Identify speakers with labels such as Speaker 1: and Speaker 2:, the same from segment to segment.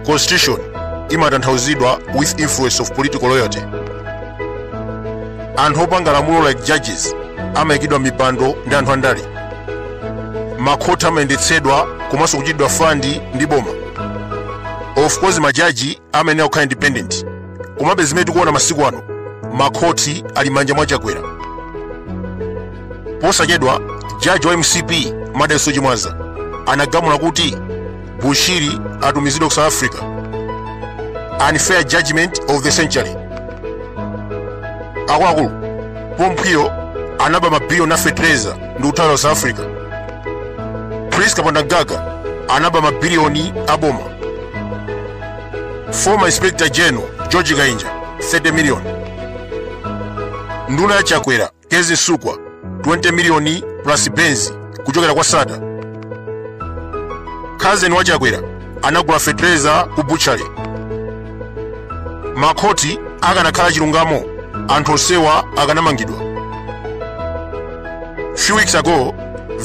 Speaker 1: constitution imatanthauzidwa with influence of political loyalty anthu opanga lamulo like judges amayikidwa m'mipando ndi anthu andale makhoti amayendetsedwa komanso kuchitidwa fandi ndi boma of course majaji amayenera kukhala independent komabe zimene tikuona masiku ano makhoti ali m'manja mwa chakwera posachedwa jaji wa mcp madalitso chimwaza anagamula kuti bushiri atumizidwe ku south africa unfair judgment of the century akuluakulu pompo uyo anaba mabiliyoni a fetereza ndi kuthawira south africa prince kapondamgaga anaba mabiliyoni a boma former inspector general george kainja 30 million nduna ya chakwera Kezzie Msukwa 20 miliyoni plus Benz kuchokera kwa Sattar. Khazeni wa Chakwera anagula fetereza ku butchery. Makhoti akanakhala chilungamo anthu onsewa akanamangidwa. Few weeks ago,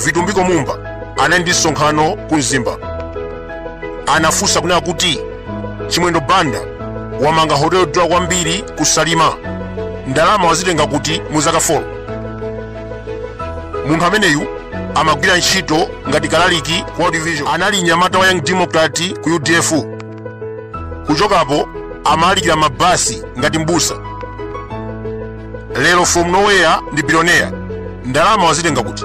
Speaker 1: Vitumbiko Mumba anali ndi msonkhano ku Mzimba. Anafunsa kunena kuti chimwendo banda wamanga hoteli yodula kwambiri ku salima ndalama wazitenga kuti mu zaka 4 munthu ameneyu amagwira ntchito ngati kalaliki ku World Vision. anali nyamata wa young democrat ku udf kuchokapo amalalikira m'mabasi ngati mbusa lero from nowhere ndi bilioneya ndalama wazitenga kuti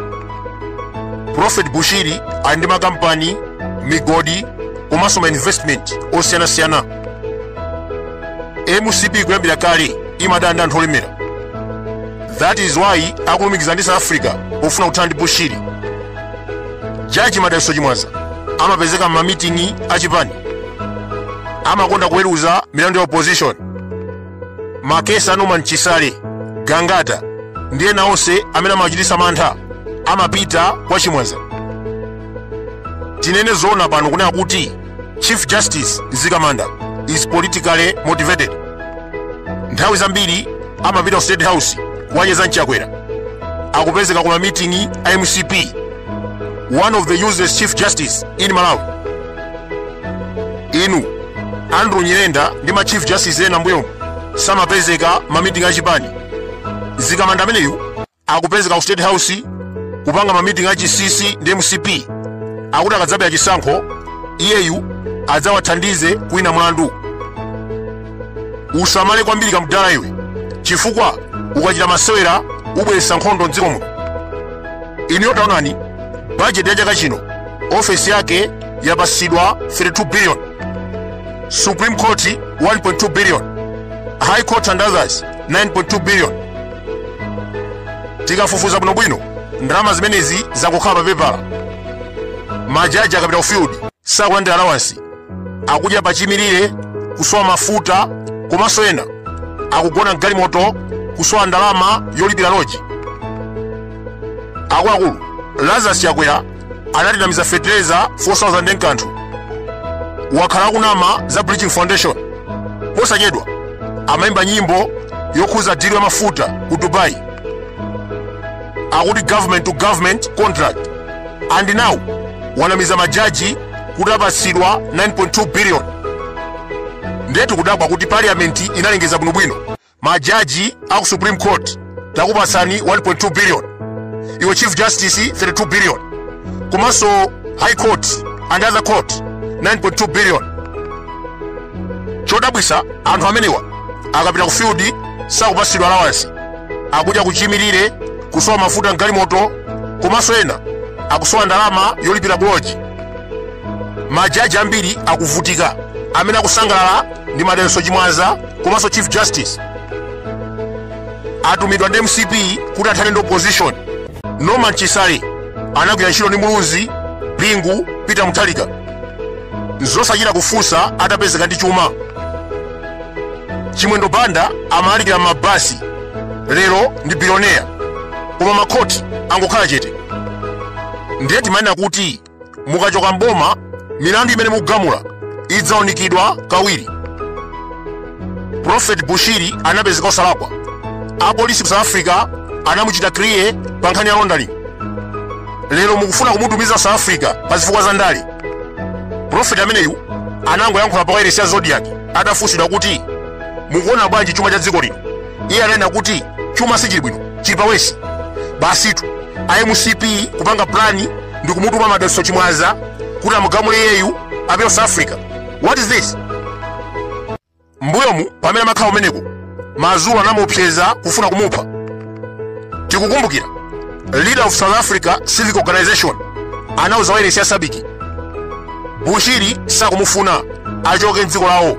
Speaker 1: prophet bushiri ali ndi makampani migodi komanso mainvestment osiyanasiyana mcp kuyambira kale imadana ndi anthu olemera that is why akulumikizana ndi south africa pofuna kuthana ndi bushiri jaji madalitso chimwaza amapezeka m'mamiting'i achipani amakonda kuweruza milandu ya opposition makesi a norman chisale gangata ndi ena onse amene amachititsa mantha amapita kwa chimwaza tinene zoona pano kunena kuti chief justice mzikamanda is politically motivated nthawi zambiri amapita ku state house kukacheza ndi chakwera akupezeka ku mamiting'i a mcp one of the useless chief justice in malawi inu andrew nyirenda ndi ma chief justice ena m'mbuyomu samapezeka m'mamiting achipani mzikamanda ameneyu akupezeka ku state house kupanga mamiting a chinsinsi ndi mcp akuti akadzabera chisankho iyeyu adzawathandize kuwina mlandu usamale kwambiri kamdala iwe chifukwa ukachita masewera ubweretsa nkhondo mdziko muno inuyo taonani bajeti ya chaka chino ofesi yake yapatsidwa 32 billion supreme court 1.2 billion high court and others 9.2 billion tikafufuza bwinobwino ndalama zimenezi zangokhala papepala majaji akapita ku field sakulandira allowance akudya pachiimirire kusowa mafuta komanso ena akugona mgalimoto kusowa ndalama yolipira loji akuluakulu lazarus chakwera anatinamiza fetereza 4000 nkanthu wakhala akunama za bridgin foundation posachedwa amayimba nyimbo yokhuza dilo ya mafuta ku dubai akuti government to government contract and now wanamiza majaji kuti apatsidwa 9.2 billion ndetu kudabwa kuti parliament inalengeza bwinobwino majaji a ku supreme court takupatsani 1.2 billion iwe chief justice 32 billion komanso high court and other courts 9.2 billion chodabwisa anthu amenewa akapita ku field sakupatsidwa allowance akudya pachiimirire kusowa mafuta mgalimoto komanso ena akusowa ndalama yolipira loji majaji ambiri akuvutika amene akusangalala ndi madalitso chimwaza komanso chief justice atumidwa ndi mcp kuti athane ndi opposition norman chisale anagwira ntchito ndi muluzi bingu peter mutharika nzosachita kufunsa atapezeka ndi chuma chimwendo banda amalalikira mmabasi lero ndi biloneya koma makhoti angokhala chete ndiye timanena kuti mukachoka mboma milandu imene mukugamula idzaunikidwa kawiri prophet bushiri anapezeka osalakwa apolisi ku south africa anamuchita kiliya pa nkhani ya laundering lero mukufuna kumutumiza south africa pa zifukwa za ndale prophet ameneyu anangoyankhula pa wailesi ya zodiak atafunsidwa kuti mukuona bwanji chuma cha dziko lino iye ananena kuti chuma sichili bwino chili pa worse basitu a mcp kupanga plani ndi kumutuma madalitso chimwaza kuti amugamule iyeyu apite south africa what is this mbuyomu pamene amakhala kumeneko mazulu anamuopseza kufuna kumupha tikukumbukira leader of south africa civic organization anauza wailesi ya sabiki bushiri sakumufuna achoke mdziko lawo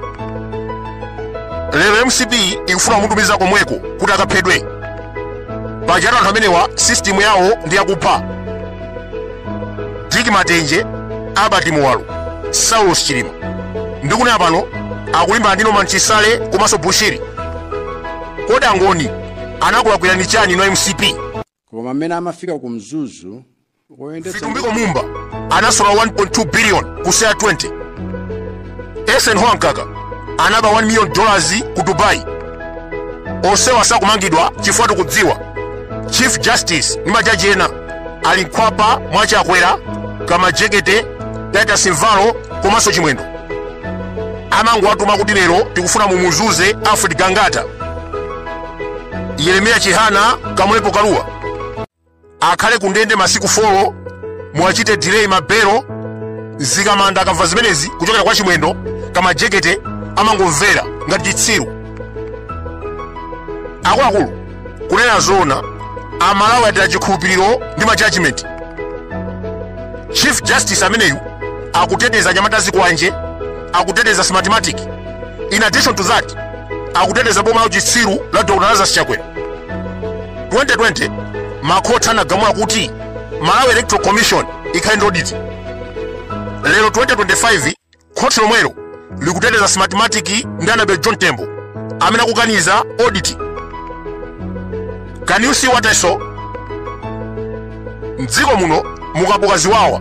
Speaker 1: lero mcp ikufuna kumutumiza komweko kuti akaphedwe pajatu anthu amenewa sistimu yawo ndi yakupha dick matenje albert muwalo saulos chilima ndi kunena pano akulimbana ndi norman chisale komanso bushiri kodi angoni anakulakwirani chani inu mcp koma pamene
Speaker 2: amafika ku mzuzu woyendetsa Vitumbiko
Speaker 1: Mumba anasola 1.2 billion ku CEAR 20. Eisenhower Mkaka anaba 1 million dollars ku Dubai. Onsewa sakumangidwa chifukwa tikudziwa Chief Justice ndi majaji ena ali mkhwapa mwa Chakwera, Kamajekete, Titus Mvalo komanso Chimwendo. Amangowatuma kuti lero tikufuna mumuzuze Alfred Gangata, Yeremiya Chihana, Kamulepo Kaluwa. akhale kundende masiku 4 muwachite delay mabelo zikamanda akamva zimenezi kuchokera kwa chimwendo Kamajekete amangomvera ngati chitsiru akuluakulu kunena zoona amalawi ataya chikhulupiriro ndi ma judgment chief justice ameneyu akuteteza anyamata a zikwanje akuteteza smartmatic in addition to that akuteteza boma la uchitsiru la dr lazarus chakwera 2020 makhoti anagamula kuti malawi electoral commission ikhale ndi audit lero 2025 khoti lomwelo likuteteza smartmatic ndi Annabel Mtalimanja amene akukaniza audit can you see what i saw mdziko muno mukabuka ziwawa